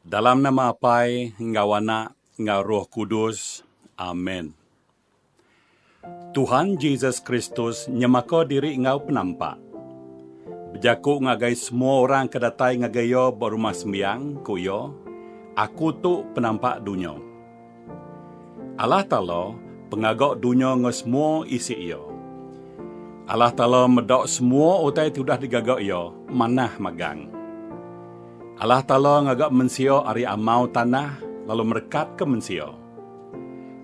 Dalam nama Apai enggau Anak enggau Roh Kudus. Amen. Tuhan Jesus Kristus nyemaka diri enggau penampak. Bejaku ngagai semua orang ke datai ngagai iya ba Rumah Sembiang, ku iya, Aku tu penampak dunya. Allah Taala, pengaga dunya enggau semua isi iya. Allah Taala meda semua utai ti udah digaga Iya manah magang. Allah Taala ngaga mensia ari amau tanah lalu merekatka mensia.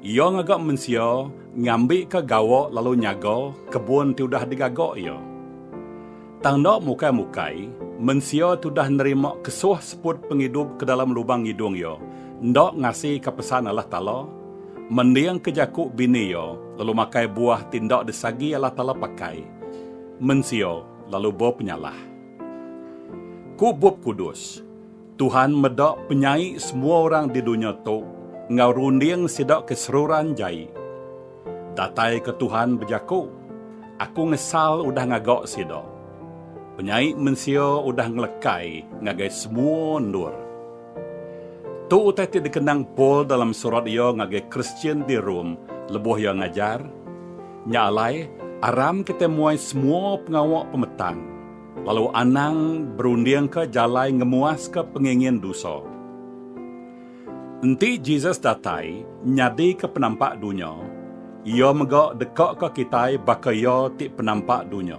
Iya ngaga mensia ngambika gawa lalu nyaga kebun ti udah digaga Iya. Tang enda mukai-mukai, mensia tudah nerima kesuh seput pengidup ke dalam lubang ngidung iya, enda ngasika pesan Allah Taala, mendingka jaku bini iya, lalu makai buah ti enda disagi Allah Taala pakai. Mensia lalu bepenyalah. Ku Bup Kudus. Tuhan meda penyai semua orang di dunya tu enggau runding sida ke seruran jai. Datai ke Tuhan bejaku, Aku ngesal udah ngaga sida. Penyai mensia udah ngelekai ngagai semua endur. Tu utai ti dikenang Paul dalam surat iya ngagai Kristian di Rome lebuh iya ngajar, Nya alai, aram kitai muai semua pengawa pemetang. Lalu anang berundingka jalai ngemuaska pengingin dusa. Enti Jesus datai nyadika penampak dunya, Iya mega dekaka kitai baka Iya ti penampak dunya.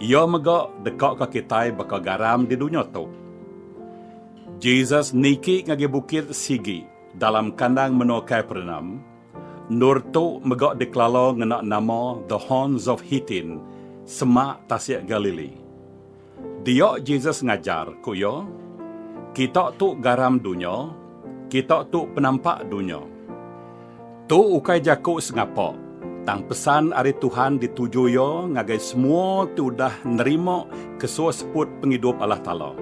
Iya mega dekaka kitai baka garam di dunya tu. Jesus niki ngagai bukit sigi dalam kandang menua Kapernaum, Endur tu mega dikelala ngena nama The Horns of Hittin, Semak Tasik Galili. Dia Jesus ngajar, ku iya, Kita tu garam dunya, kita tu penampak dunya. Tu ukai jaku sengapa, tang pesan ari Tuhan dituju iya ngagai semua ti udah nerima kesuah seput pengidup Allah Taala.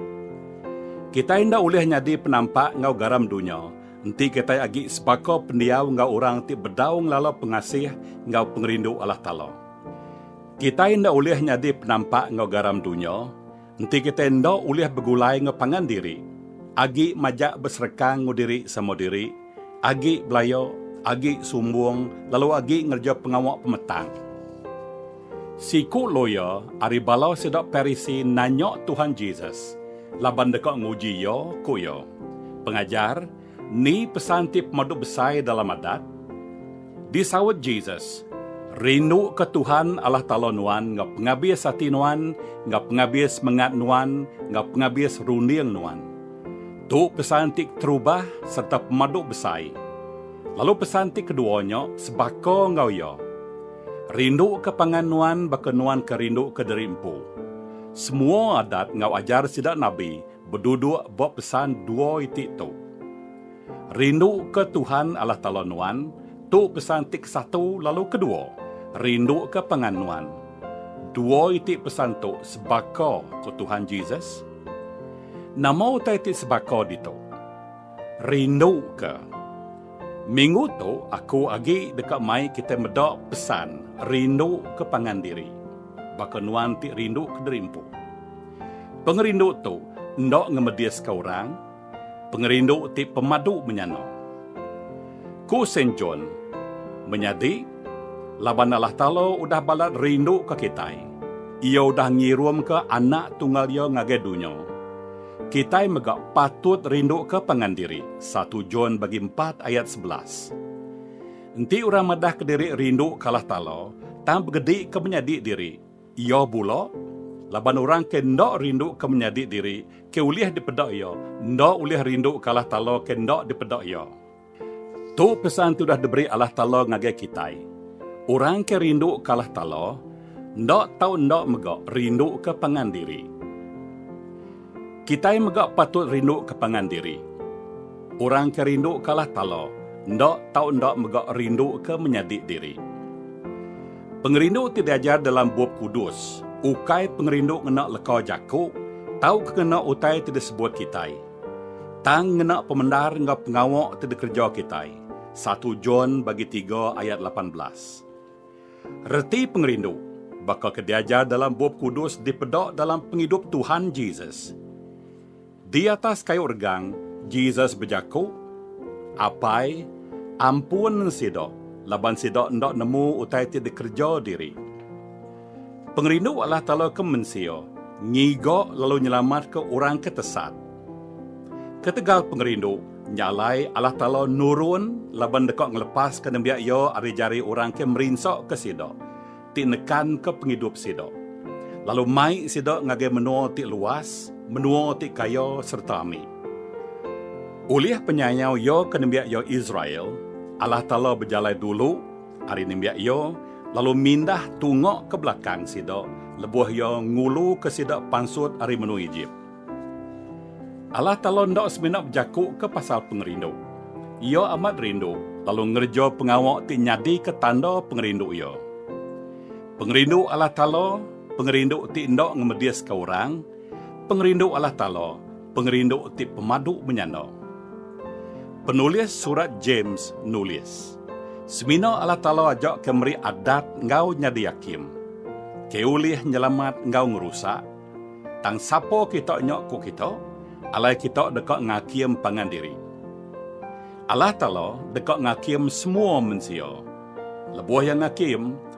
Kitai enda ulih nyadi penampak enggau garam dunya, Enti kitai agi sebaka pendiau enggau orang ti bedau ngelala pengasih enggau pengerindu Allah Taala, kitai enda ulih nyadi penampak enggau garam dunya, enti kitai enda ulih begulai enggau pangan diri, agi majak besereka enggau diri sama diri, agi belaya, agi sumbung, lalu agi ngereja pengawa pemetang. Siku loya ari bala sida Parisi nanya Tuhan Jesus laban deka nguji Iya, ku iya, Pengajar, ni pesan ti pemadu besai dalam Adat? Disaut Jesus, Rinduka Tuhan Allah Taala nuan enggau pengabis ati nuan, enggau pengabis mengat nuan, enggau pengabis runding nuan. Tu pesan ti keterubah sereta pemadu besai. Lalu pesan ti kedua nya sebaka enggau iya. Rinduka pangan nuan baka nuan ke rinduka diri empu. Semua adat enggau ajar sida nabi beduduk ba pesan dua iti tu. Rinduka Tuhan Allah Taala nuan, tu pesan ti kesatu lalu kedua, rinduka pangan nuan. Dua iti pesan tu sebaka, ku Tuhan Jesus. Nama utai ti sebaka ditu? Rinduka. Minggu tu aku agi deka mai kitai meda pesan rindu ke pangan diri. Baka nuan ti rindu kediri empu. Pengerindu tu enda ngemediska orang, pengerindu ti pemadu menyana. Ku Saint John, Menyadi, laban Allah Taala udah balat rinduka kitai, Iya udah ngirumka Anak Tunggal Iya ngagai dunya. Kitai mega patut rinduka pangan diri, satu John bagi empat ayat sebelas. Enti orang madahka diri rinduka Allah Taala, tang begedika menyadi diri, iya bula? Laban orang ke enda rinduka menyadi diri, ke ulih dipeda iya, enda ulih rinduka Allah Taala ke enda dipeda iya. Tu pesan ti udah diberi Allah Taala ngagai kitai. Orang ke rinduka Allah Taala, enda tau enda mega rinduka pangan diri. Kitai mega patut rinduka pangan diri. Orang ke rinduka Allah Taala, enda tau enda mega rinduka menyadi diri. Pengerindu ti diajar dalam Bup Kudus ukai pengerindu ngena leka jaku tauka ngena utai ti disebut kitai. Tang ngena pemendar enggau pengawa ti dikereja kitai, satu John bagi tiga ayat lapan belas. Reti pengerindu, baka ke diajar dalam Bup Kudus dipeda dalam pengidup Tuhan Jesus. Di atas kayu regang, Jesus bejaku, Apai, ampun sida, laban sida enda nemu utai ti dikereja diri. Pengerindu Allah Taala ke mensia ngiga lalu nyelamatka orang ke tesat. Ketegal pengerindu nya alai Allah Taala nurun laban deka ngelepaska nembiak Iya ari jari orang ke merinsaka sida ti nekanka pengidup sida, lalu mai sida ngagai menua ti luas, menua ti kaya sereta ami. Ulih penyayau Iya ke nembiak Iya Israel, Allah Taala bejalai dulu Ari nembiak iya, lalu mindah tungok ke belakang sida lebuh iya nguluka sida pansut ari menua Ejip. Allah Taala enda semina bejakuka pasal pengerindu. Iya amat rindu lalu ngereja pengawa ti nyadika tanda pengerindu Iya. Pengerindu Allah Taala, pengerindu ti enda ngemediska orang, Pengerindu Allah Taala, pengerindu ti pemadu menyanda. Penulis Surat James nulis, Semina Allah Taala aja ke meri adat enggau nyadi akim, ke ulih nyelamat enggau ngerusak, tang sapa kita nya ku kita, alai kita deka ngakim pangan diri. Allah Taala deka ngakim semua mensia. Lebuh Iya ngakim,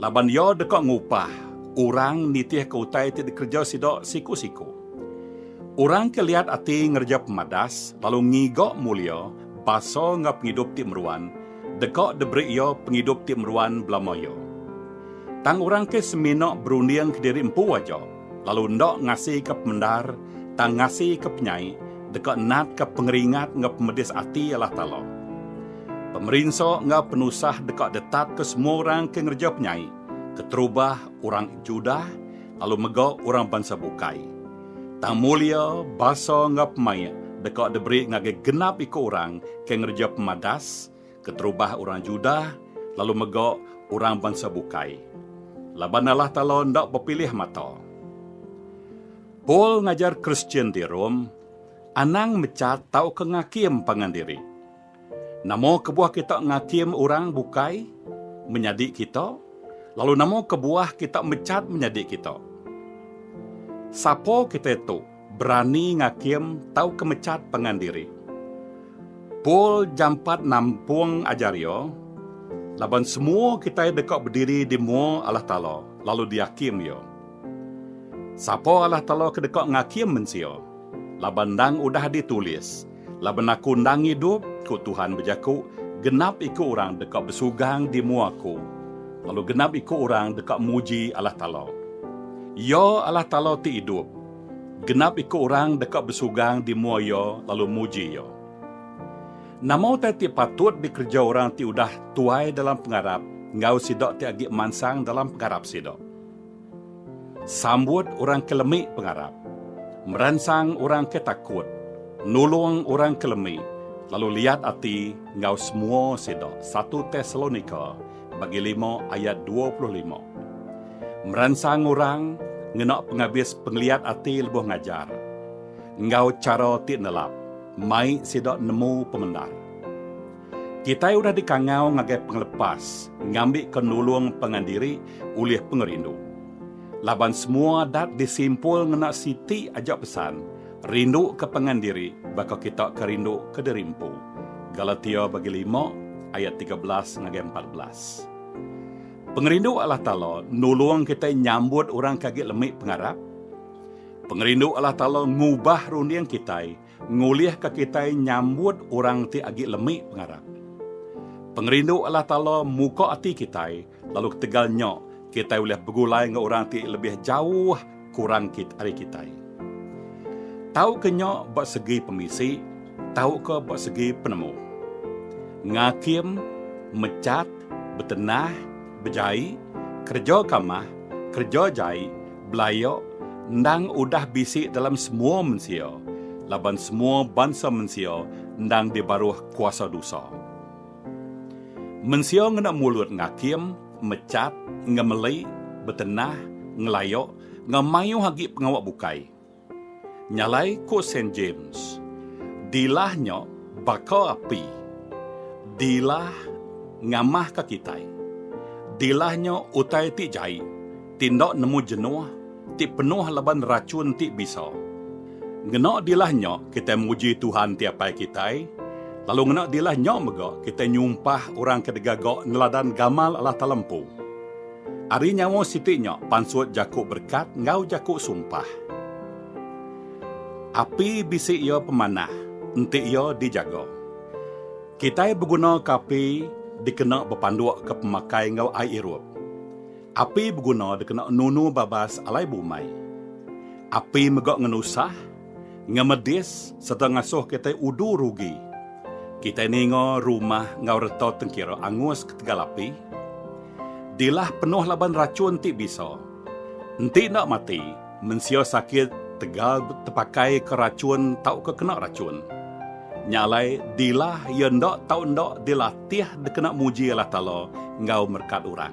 Laban iya deka ngupah orang nitihka utai ti dikereja sida siku-siku. Orang ke liat ati ngereja pemadas lalu ngiga mulia basa enggau pengidup ti meruan, deka diberi iya pengidup ti meruan belama iya. Tang orang ke semina berunding kediri empu aja, lalu enda ngasika pemendar tang ngasika penyai deka natka pengeringat enggau pemedis ati Allah Taala. Pemerinsa enggau penusah deka ditatka semua orang ke ngereja penyai, keterubah orang Judah lalu mega orang bansa bukai. Tang mulia, basa enggau pemaik deka diberi ngagai genap iku orang ke ngereja pemadas, keterubah orang Judah lalu mega orang bansa bukai, laban Allah Taala enda bepilih mata. Paul ngajar Kristian di Rome anang mecat tauka ngakim pangan diri. Nama kebuah kita ngakim orang bukai menyadi kita, lalu nama kebuah kita mecat menyadi kita? Sapa kitai tu? Berani ngakim tauka mechat pangan diri. Paul jampat nampung ajar iya, Laban semua kitai deka bediri di mua Allah Taala lalu diakim Iya. Sapa Allah Taala ke deka ngakim mensia? Laban endang udah ditulis, Laban aku endang idup, ku Tuhan bejaku, genap iku orang deka besugang di mua Aku, lalu genap iku orang deka muji Allah Taala. Iya Allah Taala ti idup. Genap iku orang deka besugang di mua Iya lalu muji Iya. Nama utai ti patut dikereja orang ti udah tuai dalam pengarap enggau sida ti agi mansang dalam pengarap sida? Sambut orang ke lemi pengarap, meransang orang ke takut, nulung orang ke lemi, lalu liat ati enggau semua sida, satu Tesalonika bagi lima ayat dua puluh lima. Meransang orang ngena pengabis pengeliat ati lebuh ngajar, enggau chara ti nelap mai sida nemu pemendar. Kitai udah dikangau ngagai pengelepas ngambika nulung pangan diri ulih pengerindu. Laban semua adat disimpul ngena siti aja pesan, Rinduka pangan diri baka kita ke rinduka diri empu. Galatia bagi lima ayat tiga belas ngagai empat belas. Pengerindu Allah Taala nulung kitai nyambut orang ke agi lemi pengarap. Pengerindu Allah Taala ngubah runding kitai Ngulihka kitai nyambut orang ti agi lemi pengarap. Pengerindu Allah Taala muka ati kitai, lalu ketegal nya kitai ulih begulai enggau orang ti lebih jauh kurang ari kitai. Tauka nya ba segi pemisi tauka ba segi penemu. Ngakim, mechat, betenah, bejai, kereja kamah, kereja jai, Belayo endang udah bisi dalam semua mensia, laban semua bansa mensia endang dibaruh kuasa dosa. Mensia ngena mulut ngakim, mechat, ngemeli, betenah, ngelayo enggau mayuh agi pengawa bukai. Nyalai ku Saint James, Dilah nya baka api. Dilah ngamahka kitai. Dilah nya utai ti jai, ti enda nemu jenuh, ti penuh laban rachun ti bisa. Ngena dilah nya kitai muji Tuhan ti Apai kitai, lalu ngena dilah nya mega kitai nyumpah orang ke digaga neladan gamal Allah Taala empu. Ari nyawa siti nya pansut jaku berekat enggau jaku sumpah. Api bisi iya pemanah, enti iya dijaga. Kitai begunaka api dikena bepandukka pemakai enggau ai irup. Api beguna dikena nunu babas alai bumai. Api mega ngenusah. ngemedis sereta ngasuh kitai udu rugi. Kitai ninga rumah enggau reta tengkira angus ketegal api. Dilah penuh laban rachun ti bisa. Enti enda mati, mensia sakit tegal tepakaika rachun tauka kena rachun. Nya alai dilah iya enda tau enda dilatih dikena muji Allah Taala enggau merekat orang.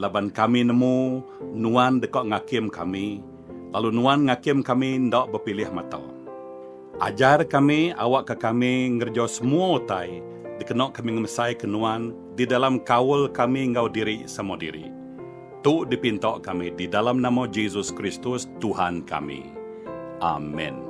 Laban kami nemu Nuan deka ngakim kami, lalu Nuan ngakim kami enda bepilih mata. Ajar kami awakka kami ngereja semua utai dikena kami ngemesaika Nuan di dalam kaul kami enggau diri sama diri. Tu dipinta kami di dalam nama Jesus Kristus, Tuhan kami. Amen.